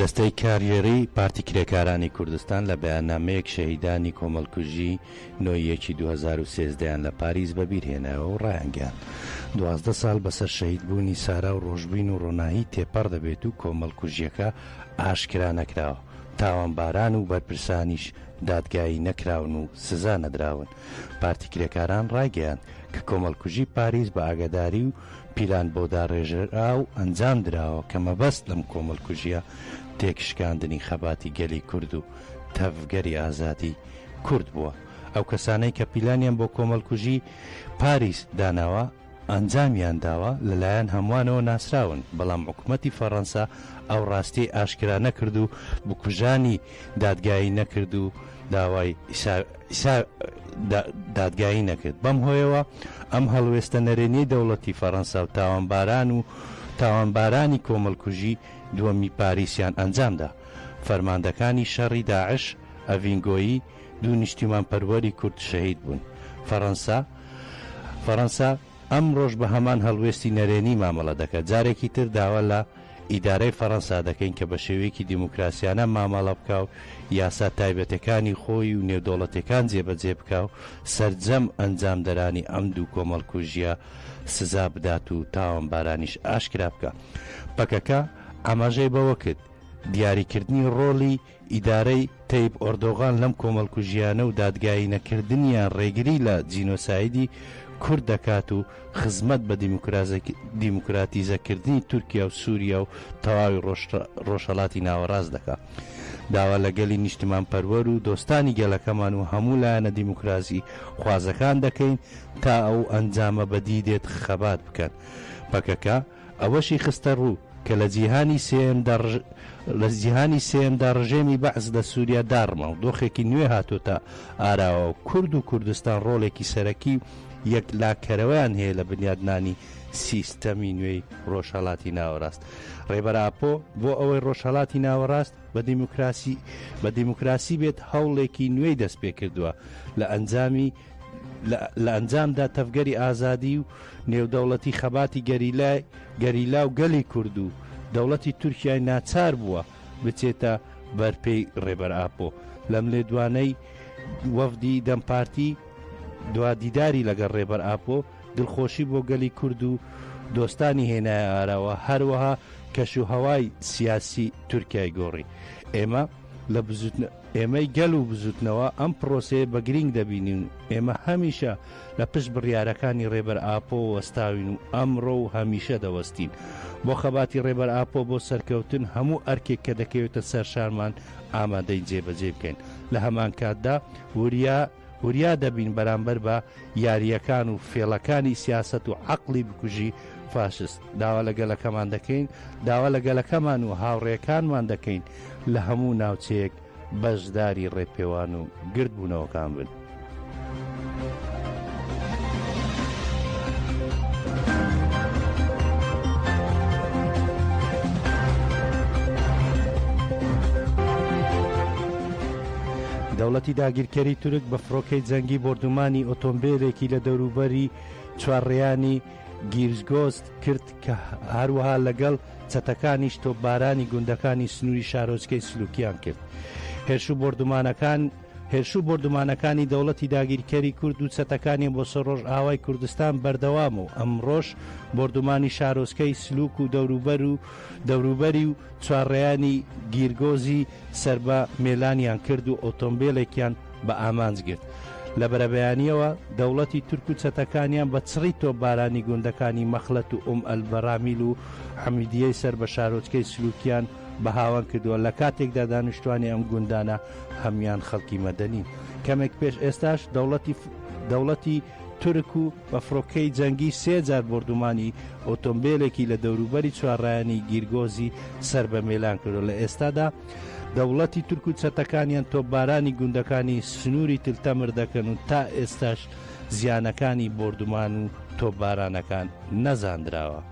دەستەی کاریێری پارتی کرێکارانی کوردستان لە بەیاننامەیەک شەهیدانی کۆمەڵکوژی نۆیەکی 2013یان لە پاریس بەبیرهێنایەوە و ڕایانگەیان دوازدە ساڵ بەسەر شەهید بوونی سارا و ڕۆژبین و ڕۆناهی تێپەڕ دەبێت و کۆمەڵکوژیەکە ئاشکرا نەکراوە تاوانباران و بەرپرسانیش دادگایی نەکراون و سزا نەدراون پارتی کرێکاران ڕایگەیاند کە کۆمەڵکوژی پاریس بە ئاگاداری و پیلان بۆ داڕێژراو ئەنجام دراوە کە مەبەست لەم کۆمەڵکوژیە تێکشکاندنی خەباتی گەلی کورد و تەڤگەری ئازادی کورد بووە ئەو کەسانەی کە پیلانیان بۆ کۆمەڵکوژی پاریس داناوە ئەنجامیان داوە لەلایەن هەموانەوە ناسراون، بەڵام حکومەتی فەڕەنسا ئەو ڕاستیەی ئاشکرا نەکرد و بکوژانی دادگایی نەکرد و داوای دادگایی نەکرد بەم هۆیەوە ئەم هەڵوێستە نەرێنیەی دەوڵەتی فەڕەنسا و تاوانباران و تاوانبارانی کۆمەڵکوژی دووەمی پاریسیان ئەنجامدا فەرماندەکانی شەڕی داعش ئەڤین گۆیی دوو نیشتیمان پەروەری کورد شەهید بوون. فەرەنسا فەرەنسا ئەمڕۆش بە هەمان هەڵوێستی نەرێنی مامەڵە دەکات. جارێکی تر داوا لە ئیدارەی فەرەنسا دەکەین کە بە شێوەیەکی دیموکراسیانە مامەڵە بکا و یاسا تایبەتەکانی خۆی و نێودەوڵەتیەکان جێبەجێ بکا و سەرجەم ئەنجامدەرانی ئەم دوو کۆمەڵکوژیە سزا بدات و تاوانبارانیش ئاشکرا بکا. پەکەکە ئاماژەی بەوە کرد، دیاریکردنی ڕۆڵی ئیدارەی تەیب ئۆردۆغان لەم کۆمەڵکوژییانە و دادگایی نەکردنیان ڕێگری لە جینۆسایدی کورد دەکات و خزمەت بە دیموکراتیزەکردنی تورکیا و سووریا و تەواوی ڕۆژهەڵاتی ناوەڕاست دەکا. داوا لە گەلی نیشتمانپەروەر و دۆستانی گەلەکەمان و هەموو لایەنە دیموکراسی خوازەکان دەکەین تا ئەو ئەنجامە بەدی دێت خەبات بکەن. پەکەکە، ئەوەشی خستەڕوو کە لە جیهانی سێیەمدا لە جیهانی سێیەمدا ڕژێمی بەعس لە سووریا داڕما و دۆخێکی نوێ هاتۆتە ئاراوە و کورد و کوردستان ڕۆڵێکی سەرەکی و یەکلاکەرەوەیان هەیە لە بنیادنانی سیستەمی نوێی ڕۆژهەڵاتی ناوەڕاست ڕێبەر ئاپۆ بۆ ئەوەی ڕۆژهەڵاتی ناوەڕاست بە دیموکراسی بە دیموکراسی بێت هەوڵێکی نوێی دەست پێ کردووە لە ئەنجامی لە ئەنجامدا تەڤگەری ئازادی و نێودەوڵەتی خەباتی گەریلای گەریلا و گەلی کورد و دەوڵەتی تورکیای ناچار بووە بچێتە بەرپێی ڕێبەر ئاپۆ لەم لێدوانەی وەفدی دەم پارتی دوا دیداری لەگەڵ ڕێبەر ئاپۆ دڵخۆشی بۆ گەلی کورد و دۆستانی هێنای ئاراوە هەروەها کەش و هەوای سیاسی تورکای گۆڕی ئێمە لە بزوتنە ئێمەی گەل و بزوتنەوە ئەم پرۆسەیە بە گرینگ دەبینین و ئێمە هەمیشە لە پشت بڕیارەکانی رێبەر ئاپۆ وەستاوین و ئەمڕۆ و هەمیشە دەوەستین بۆ خەباتی رێبەر ئاپۆ بۆ سەرکەوتن هەموو ئەرکێک کە دەکەوێتە سەر شانمان ئامادەین جێبەجێی بکەین لە هەمانکاتدا وریا وریا دەبین بەرامبەر بە یارییەکان و فێڵەکانی سیاسەت و عەقڵی بکوژی فاشست داوا لە گەلەکەمان دەکەین داوا لە گەلەکەمان و هاوڕێکانمان دەکەین لە هەموو ناوچەیەک بەشداری ڕێپێوان و گردبوونەوەکان بن. دەوڵەتی داگیرکەری تورک بە فڕۆکەی جەنگی بردومانی ئۆتۆمبیلێکی لە دەوروبەری چوارڕیانی گیرزگۆست کرد کە هەروەها لەگەڵ چەتەکانیش تۆپبارانی گوندەکانی سنووری شارۆچکەی سلوکیان کرد. هێرش و بۆردومانەکان هێرش و بۆردومانەکانی دەوڵەتی داگیرکەری کورد و چەتەکانیان بۆ سەر ڕۆژئاوای کوردستان بەردەوامە و ئەمڕۆش بۆردومانی شارۆچکەی سلوک و دەوروبەر و دەوروبەری و چوارڕێیانی گیرگۆزی سەربە مێلانیان کرد و ئۆتۆمبێلێکیان بە ئامانج گرت. لە بەرەبەیانییەوە دەوڵەتی تورک و چەتەکانیان بە چڕی تۆپبارانی گوندەکانی مەخلەت و ئوم ئەل بەرامیل و حەمیدییەی سەر بە شارۆچکەی سلوکیان بە هاوەن کردووە، لە کاتێکدا دانیشتوانی ئەم گوندانە هەموویان خەڵکی مەدەنین. کەمێک پێش ئێستاش دەوڵەتی دەوڵەتی. تورک و بە فڕۆکەی جەنگی سێ جار بۆردومانی ئۆتۆمبێلێکی لە دەوروبەری چوارڕیانی گیرگۆزی سەر بە میلان کرد و لە ئێستادا دەوڵەتی تورک و چەتەکانیان تۆپبارانی گوندەکانی سنووری تل تەمر دەکەن و تا ئێستاش زیانەکانی بۆردومان و تۆپبارانەکان نەزاندراوە.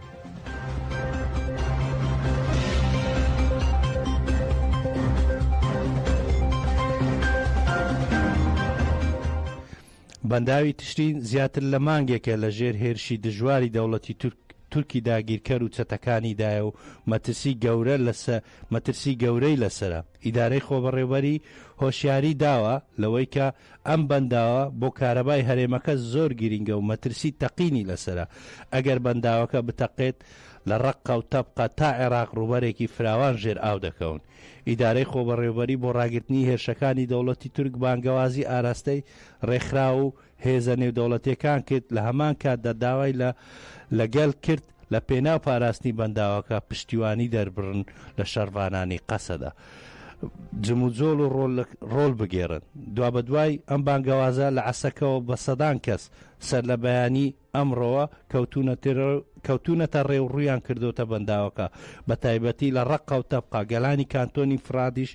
بەنداوی تشرین زیاتر لە مانگێکە لە ژێر هێرشی دژواری دەوڵەتی تورک تورکی داگیرکەر و چەتەکانیدایە و مەترسی گەورە لەسە مەترسی گەورەی لەسەرە. ئیدارەی خۆبەڕێوەبەری هۆشیاری داوە لەوەی کە ئەم بەنداوە بۆ کارەبای هەرێمەکە زۆر گرینگە و مەترسی تەقینی لەسەرە. ئەگەر بەنداوەکە بتەقێت لە ڕەققە و تەبقە تا عێراق ڕووبەرێکی فراوان ژێر ئاو دەکەون. ئیدارەی خۆبەڕێوبەری بۆ ڕاگرتنی هێرشەکانی دەوڵەتی تورک بانگەوازی ئاراستەی ڕێکخراو و هێزە نێودەوڵەتییەکان کرد، لە هەمان کاتدا داوای لە لە گەل کرد لە پێناو پاراستنی بەنداوەکە پشتیوانی دەربڕن لە شەڕڤانانی قەسەدە جموجۆڵ و ڕۆڵ بگێڕن. دوابەدوای ئەم بانگەوازە لە عەسەکەوە بە سەدان کەس سەرلەبەیانی، ئەمڕۆوە کەوتوونەتە ڕێ و ڕوویان کردۆتە بەنداوەکە، بە تایبەتی لە ڕەققە و تەبقە، گەلانی کانتۆنی فرادیش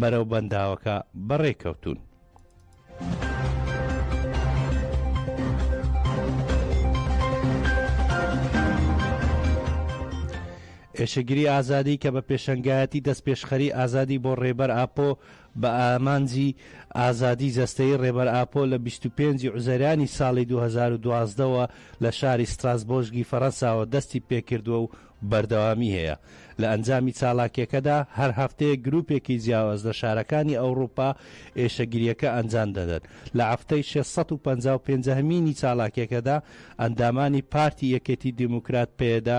بەرەو بەنداوەکە بەڕێ کەوتوون. ئێشکگری ئازادی کە بە پێشەنگایەتی دەستپێشخەری ئازادی بۆ ڕێبەر ئاپۆ، بە ئامانجی ئازادی جەستەیی ڕێبەر ئاپۆ لە بیست و پێنج ی ئوزەرانی ساڵی دوو هەزار و دوازدە وە لە شاری ستراسبۆژگی فەرەنساوە دەستی پێکردوە و بەردەوامی هەیە لە ئەنجامی چاڵاکیەکەدا هەر هەفتەیەک گروپێکی جیاواز لە شارەکانی ئەوڕوپا ئێشەگریەکە ئەنجام دەدەن لە هەفتەی شەش سەد و پەنجا و پێنج هەمینی چاڵاکیەکەدا ئەندامانی پارتی یەکێتی دیموکرات پەیەدە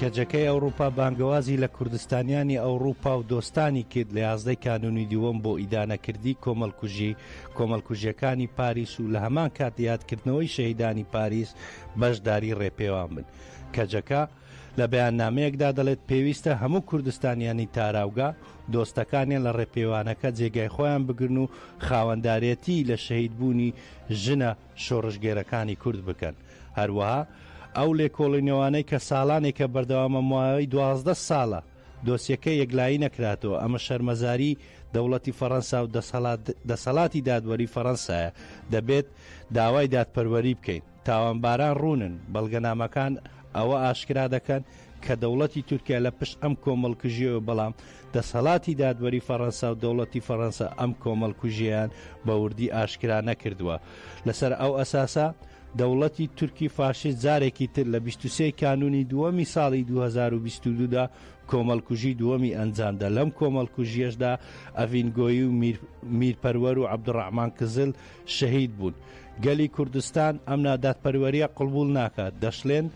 کەجەکەی ئەوروپا بانگەوازی لە کوردستانیانی ئەوروپا و دۆستانی کرد لە یازدەی کانونی دووەم بۆ ئیدانەکردی کۆمەلکوژی کۆمەلکوژیەکانی پاریس و لە هەمان کات یادکردنەوەی شەهیدانی پاریس بەشداری ڕێپێوان بن کەجەکە لە بەیاننامەیەکدا دەڵێت، پێویستە هەموو کوردستانیانی تاراوگە، دۆستەکانیان لە ڕێپێوانەکە جێگای خۆیان بگرن و خاوەندارێتی لە شەهیدبوونی ژنە شۆڕشگێرەکانی کورد بکەن. هەروەها ئەو لێکۆڵینەوانەی کە ساڵانێکە بەردەوامە ماوەی دوازدە ساڵە دۆسیەکە یەکلایی نەکراتەوە، ئەمە شەرمەزاری دەوڵەتی فەڕەنسا و دەسەڵاتی دادوەری فەڕەنسایە، دەبێت داوای دادپەروەری بکەین. تاوانباران ڕوونن، بەڵگەنامەکان ئەوە ئاشکرا دەکەن کە دەوڵەتی تورکیا لە پشت ئەم کۆمەڵکوژیەوە بەڵام دەسەڵاتی دادوەری فەڕەنسا و دەوڵەتی فەڕەنسا ئەم کۆمەڵکوژیەیان بە وردی ئاشکرا نەکردووە لەسەر ئەو ئەساسە دەوڵەتی تورکی فاشیست جارێکی تر لە بیست و سێ کانوونی دووەمی ساڵی دوو هەزار و بیست و دوو دا کۆمەڵکوژی دووەمی ئەنجامدا لەم کۆمەڵکوژیەشدا ئەڤین گۆیی و میر میرپەروەر و عەبدوڕەحمان کزل شەهید بوون گەلی کوردستان ئەم نادادپەروەریە قڵبوڵ ناکات دەشلێن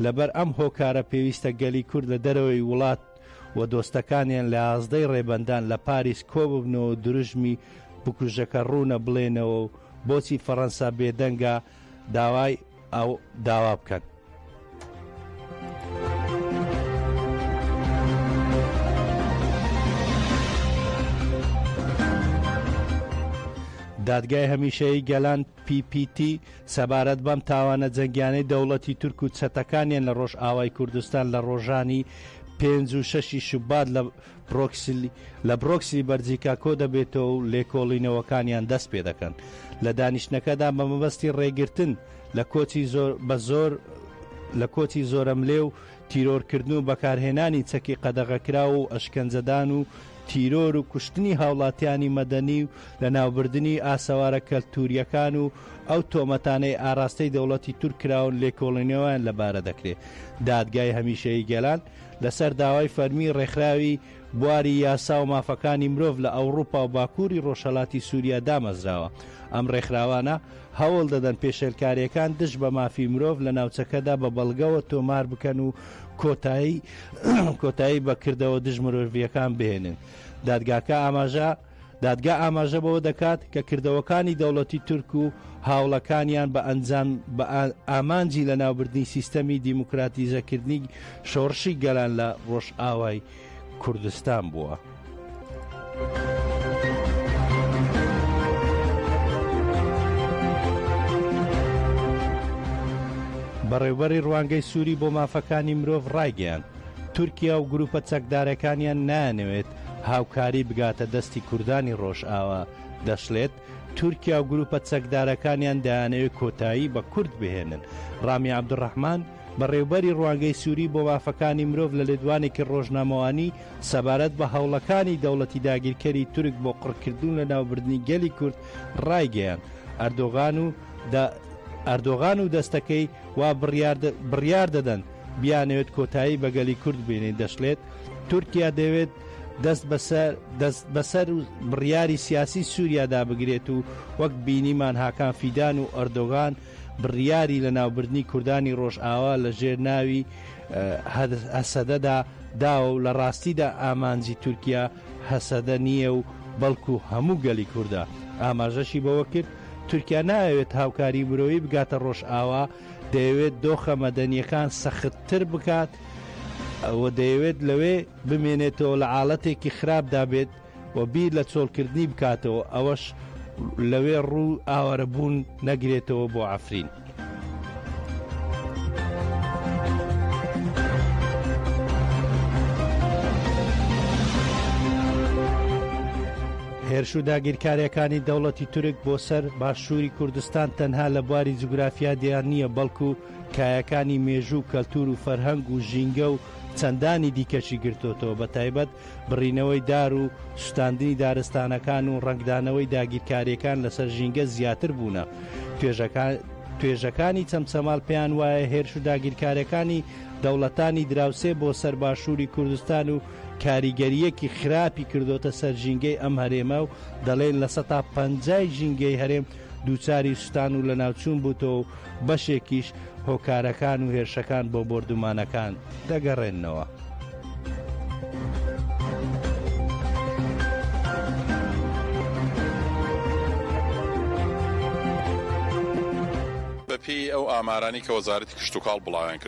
لەبەر ئەم هۆکارە پێویستە گەلی کورد لە دەرەوەی وڵات و دۆستەکانیان لە یازدەی ڕێبەندان لە پاریس کۆببنەوەو دروژمی بکوژەکە ڕوونە بڵێنەوەو بۆچی فەڕەنسا بێدەنگە داوای ئەو داوا بکەن. دادگای هەمیشەیی گەلان PPT سەبارەت بەم تاوانە جەنگیانەی دەوڵەتی تورک و چەتەکانیان لە ڕۆژ ئاوای کوردستان لە ڕۆژانی پێنج و شەشی شوبات لە پرۆکسلی، لە برۆکسلی بەرجیکا کۆدەبێتەوە و لێکۆڵینەوەکانیان دەست پێدەکەن لە دانیشتنەکەدا بە مەبەستی ڕێگرتن لە کۆچی زۆر بە زۆر لە کۆچی زۆرەملێ و تیرۆرکردن و بەکارهێنانی چەکی قەدەغەکراو و ئەشکەنجەدان و تیرۆر و کوشتنی هاوڵاتیانی مەدەنی و لەناوبردنی ئاسەوارە کەلتوریەکان و ئەو تۆمەتانەی ئاراستەی دەوڵەتی تورک کراون لێکۆڵینەوەیان لەبارە دەکرێت دادگای هەمیشەیی گەلان لەسەر داوای فەرمی ڕێکخراوی بواری یاسا و مافەکانی مرۆڤ لە ئەوڕوپا و باکووری ڕۆژهەلاتی سوریا دامەزراوە. ئەم ڕێکخراوانە هەوڵ دەدەن پێشێلکارێکان دژ بە مافی مرۆڤ لە ناوچەکەدا بە بەڵگەوە تۆمار بکەن و کۆتایی کۆتایی بە کردەوە دژ مرۆڤییەکان بهێنن. دادگاکە ئاماژە دادگا ئاماژە بەوە دەکات کە کردەوەکانی دەوڵەتی تورک و هاوڵەکانیان بە ئەنجام بە ئامانجی لە ناوبردنی سیستەمی دیموکراتیزەکردنی شۆڕشی گەلان لە ڕۆژئاوای کوردستان بووە. بەڕێوبەری ڕوانگەی سووری بۆ مافەکانی مرۆڤ ڕایگەیان تورکیا و گروپە چەکدارەکانیان نانەوێت هاوکاری بگاتە دەستی کوردانی ڕۆژئاوا، دەشڵێت، تورکیا و گروپە چەکدارەکانیان دەیانەوێت کۆتایی بە کورد بهێنن. ڕامی عەبدولڕەحمان، بەڕێوبەری ڕوانگەی سوری بۆ مافەکانی مرۆڤ لە لێدوانێکی ڕۆژنامەوانی سەبارەت بە هەوڵەکانی دەوڵەتی داگیرکەری تورک بۆ قڕکردنو لەناوبردنی گەلی کورد ڕایگەیاند، ئەردۆغان و ئەردۆغان و دەستەکەی وا بڕیار دەدەن بیانەوێت کۆتایی بە گەلی کورد بێنێت دەشڵێت، تورکیا دەیەوێت دەست بەسەر دەست بەسەر بڕیاری سیاسی سوریادا بگرێت و وەک بینیمان هاکان فیدان و ئەردۆغان بڕیاری لەناوبردنی کوردانی ڕۆژئاوا لە ژێر ناوی هەسەدەدا داوە و لە ڕاستیدا ئامانجی تورکیا هەسەدە نییە و بەڵکو هەموو گەلی کوردە ئاماژەشی بەوەکرد تورکیا نایەوێت هاوکاری مرۆیی بگاتە ڕۆژئاوا دەیەوێت دۆخە مەدەنیەکان سەختتر بکات و دەیەوێت لەوێ بمێنێتەوە لە عاڵەتێکی خراپدا بێت و بیر لە چۆڵکردنی بکاتەوە ئەوەش لەوێ ڕوو ئاوارە بوون نەگرێتەوە بۆ عفرین. هێرش و داگیرکاریەکانی دەوڵەتی تورک بۆ سەر باشووری کوردستان تەنها لە بواری جوگرافیا دیار نییە بەڵکو کایەکانی مێژوو و کەلتور و فەرهەنگ و ژینگە و چەندانی دیکەشی گرتۆتەوە بە تایبەت بڕینەوەی دار و سوتاندنی دارستانەکان و ڕەنگدانەوەی داگیرکاریەکان لەسەر ژینگە زیاتر بوونە توێژەکان توێژەکانی چەمچەماڵ پێیان وایە هێرش و داگیرکاریەکانی دەوڵەتانی دراوسێ بۆ سەر باشووری کوردستان و کاریگەرییەکی خراپی کردۆتە سەر ژینگەی ئەم هەرێمە و دەڵێن لە سەتا پەنجای ژینگەی هەرێم دووچاری سوتان و لەناوچوون بووتەوە و بەشێکیش هۆکارەکان و هێرشەکان بۆ بۆردومانەکان دەگەڕێننەوە. بەپێی ئەو ئامارانەی کە وەزارەتی کشتوکاڵ بڵاویان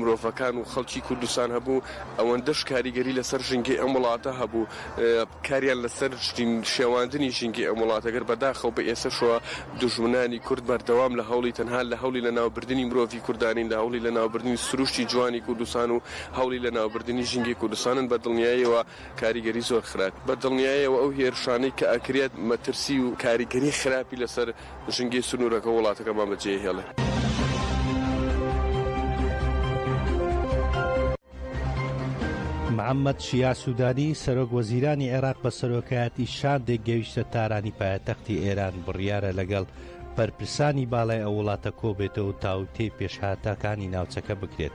مرۆڤەکان و خەڵکی کوردستان هەبوو، ئەوەندەش کاریگەری لەسەر ژینگەی ئەم وڵاتە هەبوو، کاریان لەسەر شێواندنی ژینگەی ئەم وڵاتە کرد، بەداخەوە بە ئێسەشەوە دوژمنانی کورد بەردەوام لە هەوڵی تەنها لە هەولی لەناوبردنی مرۆڤی کوردانین، لە هەوڵی لەناوبردنی سروشتی جوانی کوردستان و هەوڵی لەناوبردنی ژینگەی کوردستانن، بە دڵنیایەوە کاریگەری زۆر خراپ بە دڵنیایەوە ئەو هێرشانەی کە ئەکرێت مەترسی و کاریگەری خراپی لەسەر. ژنگی سنوورەکە وڵاتەکەمان بەجێهێڵێ. محەممەد شیاع سوودانی، سەرۆک وەزیرانی عێراق بە سەرۆکایەتی شاندێک گەویشتە تارانی پایەتەختی ئێران، بڕیارە لەگەڵ بەرپرسانی باڵای ئەو وڵاتە کۆبێتەوە و تاوتێی پێشهاتەکانی ناوچەکە بکرێت.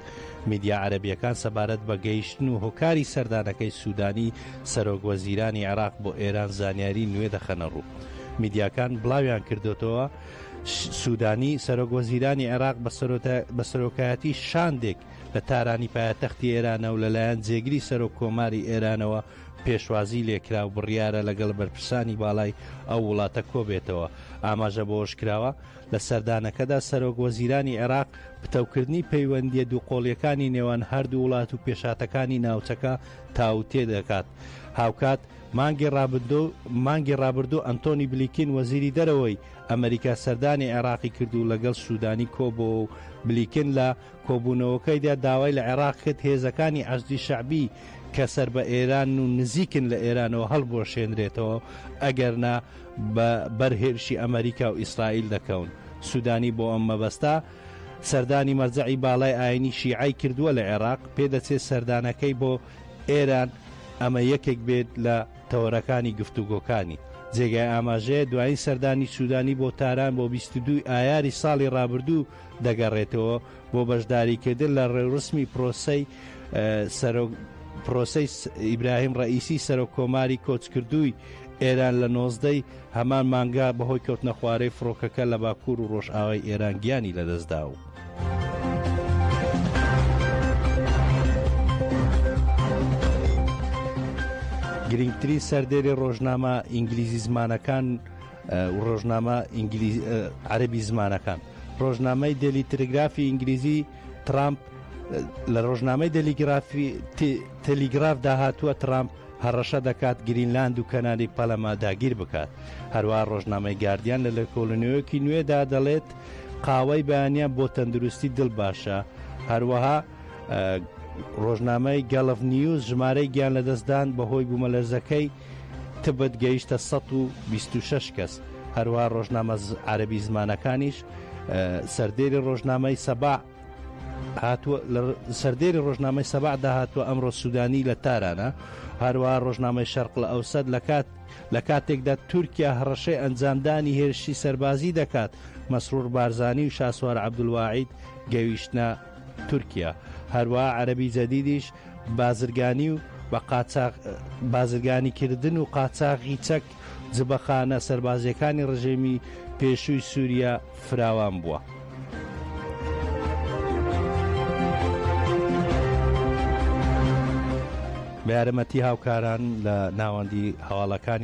میدیا عەرەبییەکان سەبارەت بە گەیشتن و هۆکاری سەردانەکەی سوودانی، سەرۆک وەزیرانی عێراق بۆ ئێران زانیاری نوێ دەخەنەڕوو میدیاکان بڵاویان کردۆتەوە سوودانی سەرۆک وەزیرانی عێراق بە سەرۆکایەتی شاندێک لە تارانی پایەتەختی ئێرانە و لەلایەن جێگری سەرۆک کۆماری ئێرانەوە پێشوازی لێکرا و بڕیارە لەگەڵ بەرپرسانی باڵای ئەو وڵاتە کۆبێتەوە ئاماژە بۆش کراوە لە سەردانەکەدا سەرۆک وەزیرانی عێراق پتەوکردنی پەیوەندیە دووقۆڵیەکانی نێوان هەردوو وڵات و پێشاتەکانی ناوچەکە تاوتوێ دەکات. هاوکات، مانگی ڕابردوو مانگی ڕابردوو ئەنتۆنی بلیکین وەزیری دەرەوەی ئەمەریکا سەردانی عێراقی کرد و لەگەڵ سوودانی کۆبۆوە و بلیکن لە کۆبوونەوەکەیدا داوای لە عێراق کرد هێزەکانی عەشدی شەعبی کە سەر بە ئێرانن و نزیکن لە ئێرانەوە هەڵبوەشێنرێتەوە ئەگەرنا بە بەر هێرشی ئەمەریکا و ئیسرائیل دەکەون سوودانی بۆ ئەم مەبەستە سەردانی مەرجەعی باڵای ئاینی شیعەی کردووە لە عێراق، پێدەچێت سەردانەکەی بۆ ئێران ئەمە یەکێک بێت لە تەوەرەکانی گفتوگۆکانی. جێگای ئاماژەیە دوایین سەردانی سودانی بۆ تاران بۆ بیست و دوو ی ئایاری ساڵی رابردوو دەگەڕێتەوە بۆ بەشداریکردن لە رێورسمی پرۆسەی سەرۆک پرۆسەی ئیبراهیم رەئیسی سەرۆک کۆماری کۆچکردووی ئێران لە نۆزدە ی هەمان مانگە بەهۆی کەوتنەخوارەی فڕۆکەکە لە باکوور و ڕۆژئاوای ئێران گیانی لەدەستدا و. گرنگترین سەردێری ڕۆژنامە ئینگلیزی زمانەکان ڕۆژنامە عەربی زمانەکان ڕۆژنامەی دێلی ترگرافی ئینگلیزی ترامپ لە ڕۆژنامەی دەلیگرافی تەلیگراف داهاتووە ترامپ هەڕەشە دەکات گرینلاند و کەناری پەلەمە داگیر بکات. هەروەها ڕۆژنامەی گاردیان لە لێکۆڵینەوەیەکی نوێدا دەڵێت، قاوەی بەیانیان بۆ تەندروستی دڵ باشە، هەروەها ڕۆژنامەی گەڵف نیوز ژمارەی گیان لەدەستدان بەهۆی بوومەلەرزەکەی تبت گەیشتە 126 کەس، هەروەها ڕۆژنامە عەرەبی زمانەکانیش سەردێری ڕۆژنامەی سەباع هاتووە، لە سەردێری ڕۆژنامەی سەباح دا هاتووە ئەمڕۆ سوودانی لە تارانە، هەروەها ڕۆژنامەی شەرقلئەوسەت لە کات لە کاتێکدا تورکیا هەڕەشەی ئەنجامدانی هێرشی سەربازی دەکات، مەسرور بارزانی و شاسوار عەبدولواحید گەویشتنە تورکیا، هەروەها عەرەبی جەدیدیش بازرگانی و بە قاچاغ بازرگانیکردن و قاچاغی چەک جبەخانە سەربازییەکانی ڕژێمی پێشووی سووریا فراوان بووە. بە یارمەتی هاوکاران لە ناوەندی هەواڵەکانی